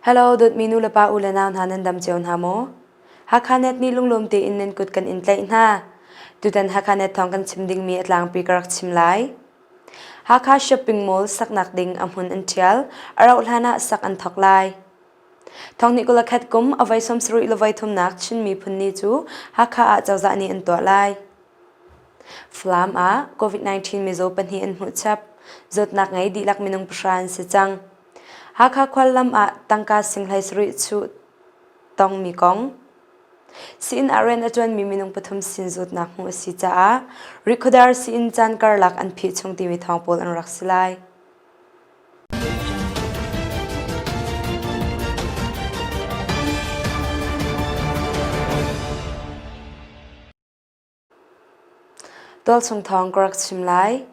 Hello, dawtmi nu le pa u le nau hna nan dam cio hna maw? Hakha net nih lunglawm tein nan kut kan in tlaih hna. Tutan Hakha net thawng kan chim dingmi a tlangpi ka rak chim lai. Hakha shopping mall saknak ding a hmun an ṭhial, a rauh hlan ah sak an thawk lai. Thong nih kul a khat kum a voi sawmsarih le voi thumnak Chin miphun ni cu Hakha ah cozah nih an tuah lai. Falam ah COVID-19 mizaw pahnih an hmuh chap. Zawtnak ngei dihlak minung pahra an si cang. Hakha khuallam ah tangka singhlai sarih chuh tongmi kong. Siin ah rian a ṭuanmi minung pathum sin zawtnak hmuh a si caah Rikhudar Siin caan karlak an phih chung timi thawng pawl an rak si lai. Tualchung thawng ka rak chim lai.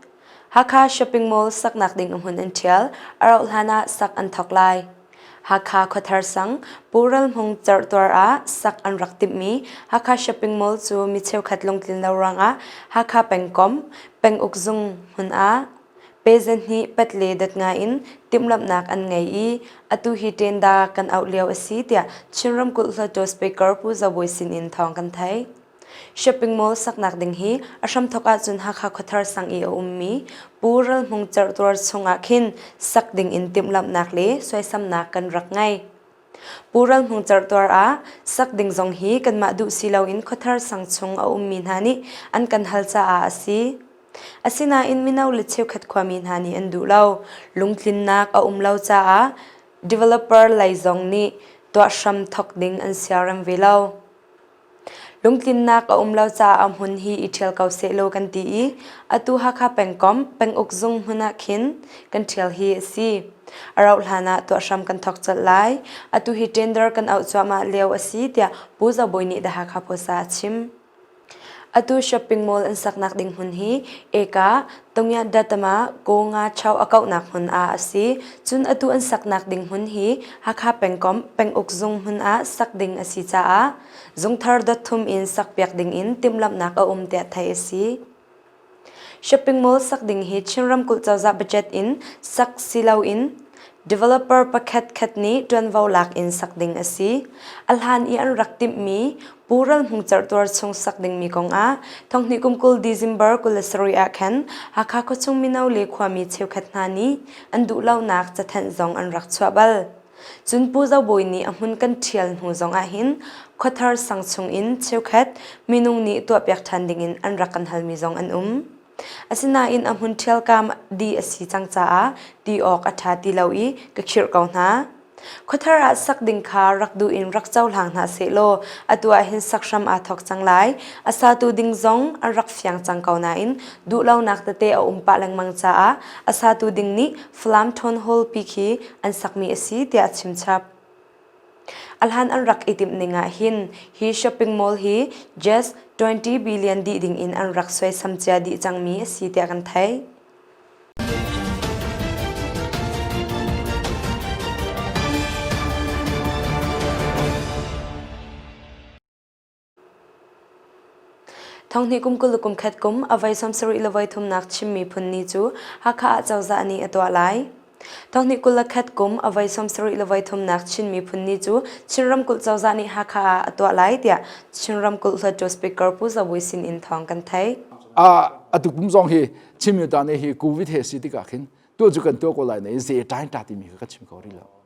Hakha Shopping Mall saknak ding ahmun an ṭhial, a rauh hlanah sak an thawk lai. Hakha khuathar sang Pural Hmung Certuar ah sak an rak timhmi Hakha Shopping Mall cu mi cheukhat lungtlin lo ruangah Hakha pengkom peng uk zung hmun ah Peasant nih pat le dat ngai in timhlamhnak an ngei i atu hi ṭenda kan auh lio a si tiah Chin ramkulh hluttaw speaker Pu Za Bawi sinin thawng kan theih. Shopping mall saknak ding hi a hramthok ahcun Hakha khuathar sang i a ummi Pu Ral Hmung Certuar chungah khin sak ding in timhlamhnak le suaisamnak kan rak ngei. Pu Ral Hmung Certuar ah sak ding zong hi kanmah duh si loin khuathar sang chung a ummi hna nih an kan hal caah a si. Asinain mino le cheukhat khuami hna nih an duh lo. Lungtlinnak a um lo caah developer lei zong nih tuah hram thawk ding an siarem ve lo. Lungtlinnak a um lo caah hmun hi i ṭhial ko sehlaw kan ti i atu Hakha pengkomh penguk zung hmun ah khin kan ṭhial hi a si. A rauh hlanah tuah hram kan thawk colh lai. Atu hi tender kan auh cuahmah lio a si tiah Pu Zo Bawi nih The Hakha Post ah a chim. Atu shopping mall an saknak ding hmun hi Eka Tongyat Dattama Ko-nga Chow a kauhnak hmun ah a si. Cun atu an saknak ding hmun hi Hakha pengkomh penguk zung hmun ah sak ding a si caah zungthar dot thum in sakpiak dingin timhlamhnak a um tiah theih a si. Shopping mall sak ding hi Chin ramkulh cozah budget in sak si loin developer pakhat khat nih ṭuanvo lak in sak ding a si. A hlan i an rak timhmi Pu Ral Hmung Certuar chung sak dingmi kongah thonghni kum kul December kul le sarui ah khan Hakha khuachung mino le khuami cheukhat hna nih an duh lonak cathenh zong an rak chuah bal. Cun Pu Zo Bawi nih a hmun kan ṭhial hnu zongah hin khuathar sang chung in cheukhat minung nih tuahpiak ṭhan dingin an rak kan halmi zong an um. Asinain a hmun ṭhialkam dih a si cang caah ti awk a ṭha ti lo i ka khirh ko hna. Khuathar ah sak ding kha rak duh in rak cohlang hna sehlaw atu ah hin sak hram aa thawk cang lai. A satu ding zong an rak fiang cang ko nain duhlonak tete a um pah lengmang caah a satu ding nih Falam Townhall pi khi an sakmi a si tiah a chimchap. A hlan an rak i timh ning ahhin hi shopping mall hi just 20 billion dih ding in an rak suaisam cia dih cangmi a si tiah kan theih. Thonghnih kum kul le kumkhat kum a vai sawmsarih le voi thumnak chim miphun ni cu Hakha ah cozah nih a tuah lai. Thonghnih kul le khat kum a vai sawmsarih le voi thumnak Chin miphun ni cu Chin ramkulh cozah nih Hakha ah a tuah lai tiah Chin ramkulh hluattu speaker Pu Za Bui sin in thawng kan theih. A tuk pum zong hi Chin mi ta nih hi COVID he si tikah khin tu cu kan tuah ko lai na in zei tain ta timi kha ka chim kho rih lo.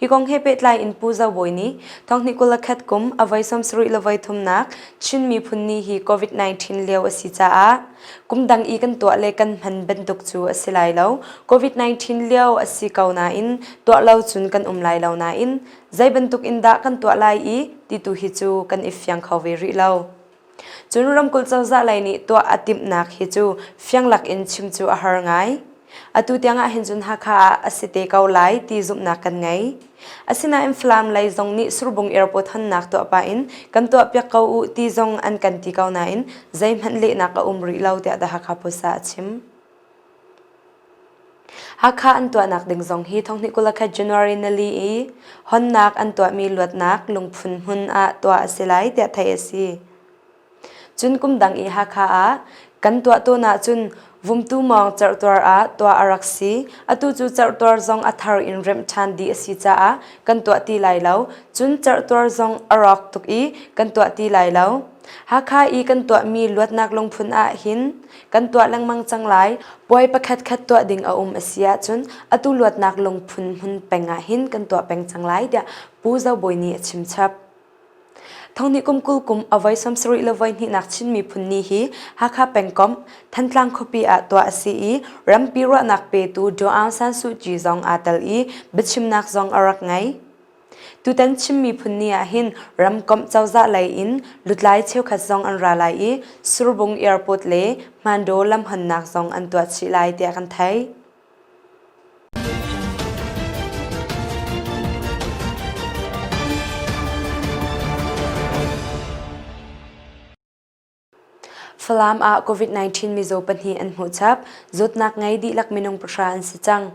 Hi kong he pehtlai in Pu Zo Bawi nih Thonghni kul le khat kum a voi sawmsarih le voi thumnak Chin miphun ni hi COVID-19 lio a si caah kumdang i kan tuah le kan hman bantuk cu a si lai lo. COVID-19 lio a si ko nain tuah lo cun kan um lai lo nain zei bantuk in dah kan tuah lai i ti tu hi cu kan i fiang kho ve rih lo. Cun ramkulh cozah lei nih tuah a timhnak hi cu fiang lakin chim cu a har ngai. Atu tiangah hin cun Hakha ah a si te ko lai ti zumhnak kan ngei. Asinain Falam lei zong nih Surbung Airport honnak tuah pah in kan tuahpiak ko u ti zong an kan ti ko nain zeihmanh lehnak a um rih lo tiah The Hakha Post ah a chim. Hakha an tuahnak ding zong hi thonghnih kulakhat January ni li i honnak an tuahmi luatnak lungphun hmun ah tuah a si lai tiah theih a si. Cun kum dang i Hakha ah kan tuah tawn ahcun vumtu mawng cerhtuar ah tuah a rak si. Atu cu cerhtuar zong a thar in remh ṭhan dih a si caah kan tuah ti lai lo. Cun cerhtuar zong a rawk tuk i kan tuah ti lai lo. Hakha i kan tuahmi luatnak lungphun ah hin kan tuah lengmang cang lai puai pakhatkhat tuah ding a um a si ahcun atu luatnak lungphun hmun peng ah hin kan tuah peng cang lai tiah Pu Zo Bawi nih a chimchap. Thongni kum kul kum avoi somsarih le voi hnihnak Chin miphun ni hi Hakha pengkom Thantlang khuapi ah tuah a si i rampi ruahnak petu Daw Aung San Suu Kyi zong aa tel i biachimnak zong a rak ngei. Tutan Chin miphun ni ah hin ramkomh cozah lei in lutlai cheukhat zong an ra lai i Surbung Airport le Hmando lamhonnak zong an tuah chih lai tiah kan theih. Falam ah COVID-19 mizaw pahnih an hmuh chap. Zawtnak ngei dihlak minung pahra an si cang.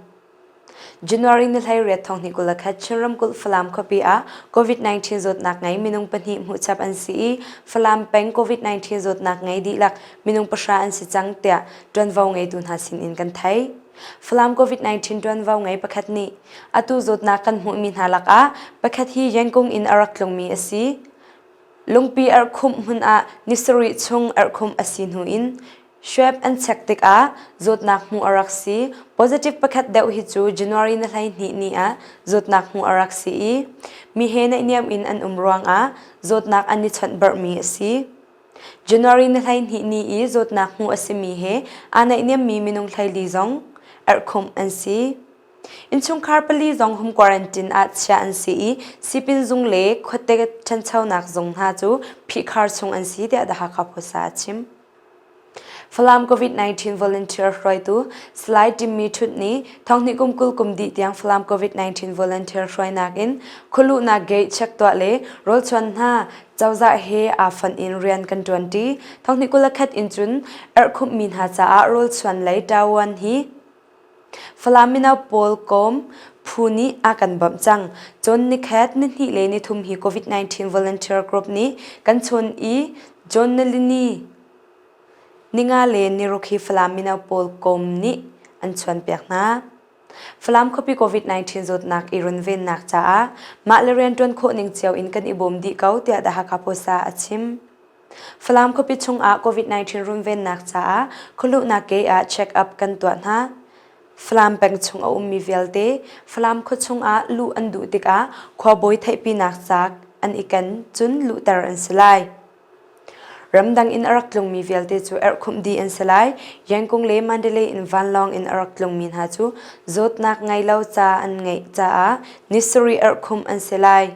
January ni hleiriat thong hnih kul khat Chin ramkulh Falam khuapi ah COVID-19 zawtnak ngei minung pahnih hmuh chap an si i Falam peng COVID-19 zawtnak ngei dihlak minung pahra an si cang tiah ṭuanvo ngeitu hna sinin kan thei. Falam COVID-19 ṭuanvo ngei pakhat nih atu zawtnak kan hmuhmi hna lakah pakhat hi Yangon in a rak tlungmi a si. Lungpi erhkhumh hmun ah ni sarih chung erhkhumh a si hnu in Schwab an chek tikah zawtnak hmuh a rak si. Positive pakhat deuh hi cu January na hleihnih ni ah zawtnak hmuh a rak si i mi he naihniam in an um ruangah zawtnak an i chawnh barhmi a si. January na hleihnih ni i zawtnak hmuh a simi he aa naihniammi minung hleili zong erhkhumh an si. Innchungkhar pali zong home quarantine ah chiah an si i Sipin zung le khuate ṭhanchonak zung hna cu phihkhar chung an si tiah The Hakha Post ah a chim. Falam COVID-19 volunteer hruaitu Salai Tim Mi Ṭhut nih thonghnih kum kul kum dih tiang Falam COVID-19 volunteer hruainak in khualuhnak gate check tuah le rawlchuan hna cozah he aa fon in rian kan ṭuanṭi. Thonghnih kul le khat in cun erhkhumhmi hna caah rawlchuan lei ṭaoan hi Falam mino pawl kawm phu nih a kan bawmh cang. Cun nikhat nihnih le nithum hi COVID-19 volunteer group nih kan chun i John Nalini ninga le niruk hi Falam mino pawl kawm nih an chuanpiak hna. Falam khuapi COVID-19 zawtnak i runvennak caah mah le rian ṭuan khawh ning cio in kan i bawm dih ko tiah The Hakha Post ah a chim. Falam khuapi chungah COVID-19 runvennak caah khualuhnak ke ah check-up kan tuah hna. Falam peng chung a ummi vialte Falam khua chungah luh an duh tikah khuabawi theihpinak ca an i ken cun luhter an si lai. Ramdang in a rak tlungmi vialte cu erhkhumh dih an si lai. Yangkung le Mandalay in vanlawng in a rak tlungmi hna cu zawtnak ngei lo ca an ngeih caah ni sarih erhkhumh an si lai.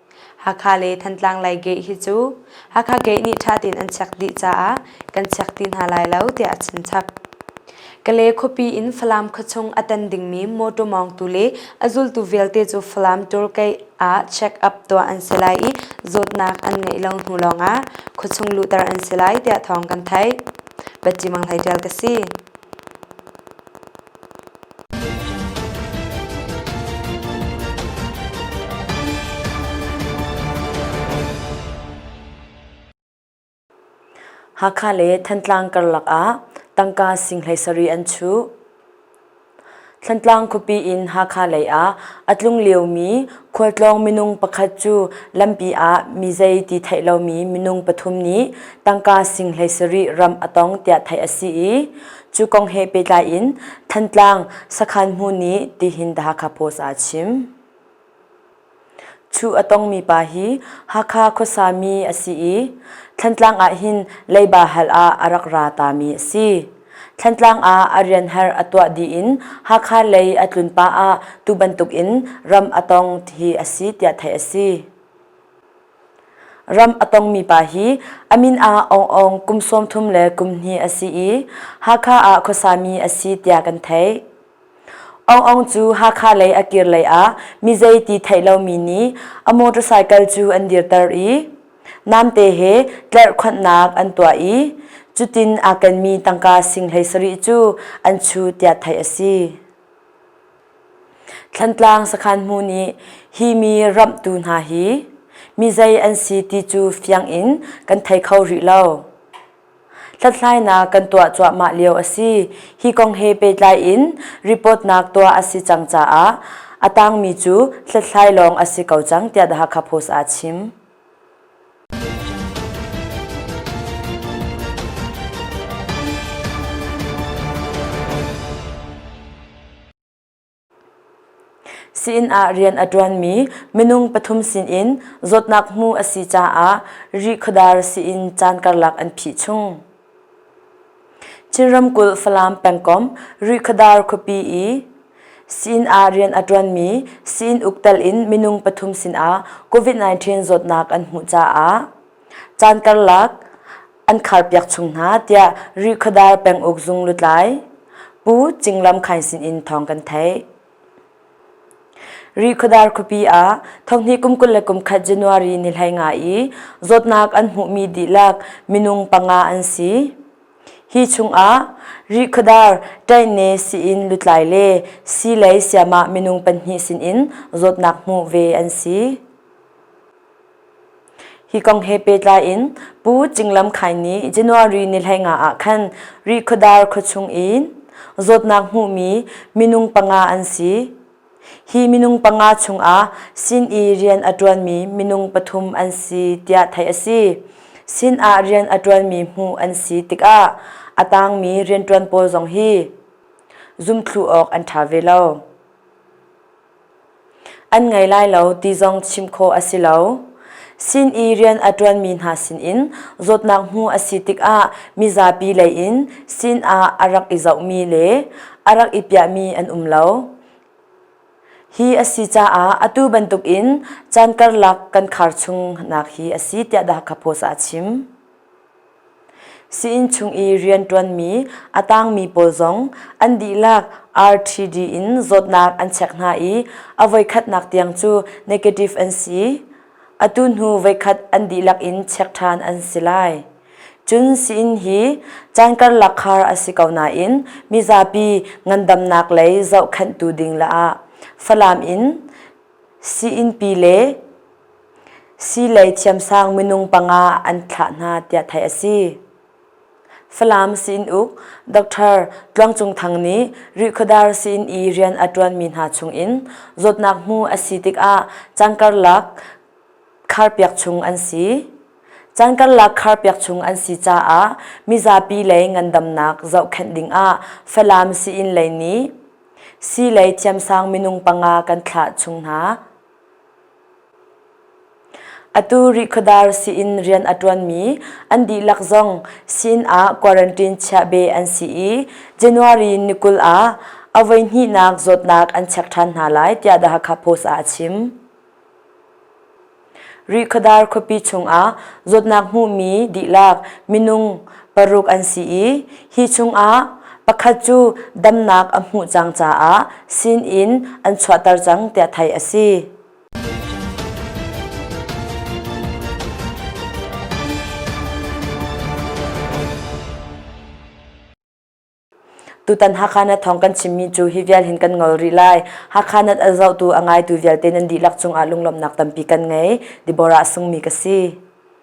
Hakha le Thantlang lei gate hi cu Hakha gate nih ṭha tein an chiak dih caah kan chiak ti hna lai lo tiah a chim chap. Kale khuapi in Falam khuachung a tan dingmi mawṭaw mawngtu le a zultu vialte cu Falam tour gate ah check up tuah an si lai i zawtnak an ngeih lo hnu lawngah khuachung luhter an si lai tiah thawng kan theih. Bati Mang Hlei Ṭial ka si. Hakha le Thantlang karlak ah tangka sing hlei sarih an chuh. Thantlang khuapi in Hakha lei ah a tlung liomi khualtlawng minung pakhat cu lampi ah mizei ti theih lomi minung pathum nih tangka sing hlei sarih ram a tong tiah theih a si i Cu kong he pehtlai in Thantlang sakhan hmu nih tihin The Hakha Post ah a chim. Thu a tongmi pa hi Hakha khuasami a si i Thantlang ah hin leiba hal ah a rak ra tami a si. Thantlang ah a rian har a tuah dih in Hakha lei a tlun pah ah tu bantuk in ram a tong hi a si tiah theih a si. Ram a tongmi pa hi a min ah Aung Aung kum sawmthum le kum hnih a si i Hakha ah khuasami a si tiah kan theih. Aung Aung cu Hakha lei a kir lei ah mizei ti theih lomi nih a motorcycle cu an dirter i namte he tlarhkhonhnak an tuah i cutin aa kenmi tangka singhlei sarih cu an chu tiah theih a si. Thlantlang sakhan hmu nih hi mi ramhtu hna hi mizei an si ti cu fiang in kan thei kho rih lo. Hlathlainak kan tuah cuahmah lio a si. Hi kong he pehtlai in report-nak tuah a si cang caah a tangmi cu hlathlai lawng a si ko cang tiah The Hakha Post aa chim. Siin ah rian a ṭuanmi minung pathum sinin zawtnak hmu a si caah Rih Khuadar siin caan karlak an phih chung. Chin ramkulh Falam pengkomh Rihkhadar khuapi i Sin ah rian a ṭuanmi Sin uk telh in minung pathum sinah COVID-19 zawtnak an hmuh caah caan karlak an kharpiak chung hna tiah Rihkhadar peng ukzung lutlai Pu Cing Lam Khain sinin thawng kan theih. Ri khuadar khuapi ah thonghnih kum kul le kum khat January ni hlei nga i zawtnak an hmuhmi dihlak minung panga an si. Hi chungah ri khuadar ṭaihne sii-inn lutlai le sii lei siamah minung pahnih sinin zawtnak hmuh ve an si. Hi kong he pehtlai in Pu Cinglam Khai nih January ni hleinga ah khan Rihkhawdar khuachung in zawtnak hmuhmi minung panga an si. Hi minung panga chungah sin i rian a ṭuanmi minung pathum an si tiah theih a si. Sin ah rian a ṭuanmi hmuh an si tikah a tangmi rianṭuan pawl zong hi zumthluh awk an ṭha ve lo. An ngei lai lo ti zong chim khawh a si lo. Sin i rian a ṭuanmi hna sinin zawtnak hmu a si tikah mizapi leiin sin ah a rak i zohmi le a rak i piahmi an um lo. Hi a si caah atu bantukin caan karlak kan khar chung nak hi a si tiah Dhaka Post ah a chim. Sii-inn chung i rian ṭuanmi a tangmi pawl zong an dihlak RTD in zawtnak an chek hna i a voikhatnak tiang cu negative an si. Atu hnu voikhat an dihlak in check ṭhan an si lai. Cun sii-inn hi caan karlak khar a si ko nain mizapi ngandamnak lei zohkhenhtu ding le ah Falam in sii-inn pi le Sii lei thiamsang minung panga an thlah hna tiah theih a si. Falam siin uk Dr. Tluang Cung Thang nih Rihkhawdar siin i rian a ṭuanmi hna chungin zawtnak hmu a si tikah caan karlak khar piak chung an si. Caan karlak khar piak chung an si caah mizapi lei ngandamnak zohkhenh dingah Falam siin lei nih sii lei thiamsang minung panga kan thlah chung hna. Atu Rihkhawdar sii-inn rian a ṭuanmi an dihlak zong sin ah quarantine chiah be an si i January ni kul ah a voihnihnak zawtnak an chek ṭhan hna lai tiah The Hakha Post ah a chim. Rihkhawdar khuapi chungah zawtnak hmuhmi dihlak minung paruk an si i Hi chungah pakhat cu damnak a hmuh cang caah sin in an chuahter cang tiah theih a si. Tutan Hakhanat thawng kan chimmi cu hi vial hin kan ngol rih lai. Hakhanat a zohtu a ngaitu vialte nan dihlak cungah lunglawmhnak tampi kan ngei. Deborah a sungmi ka si.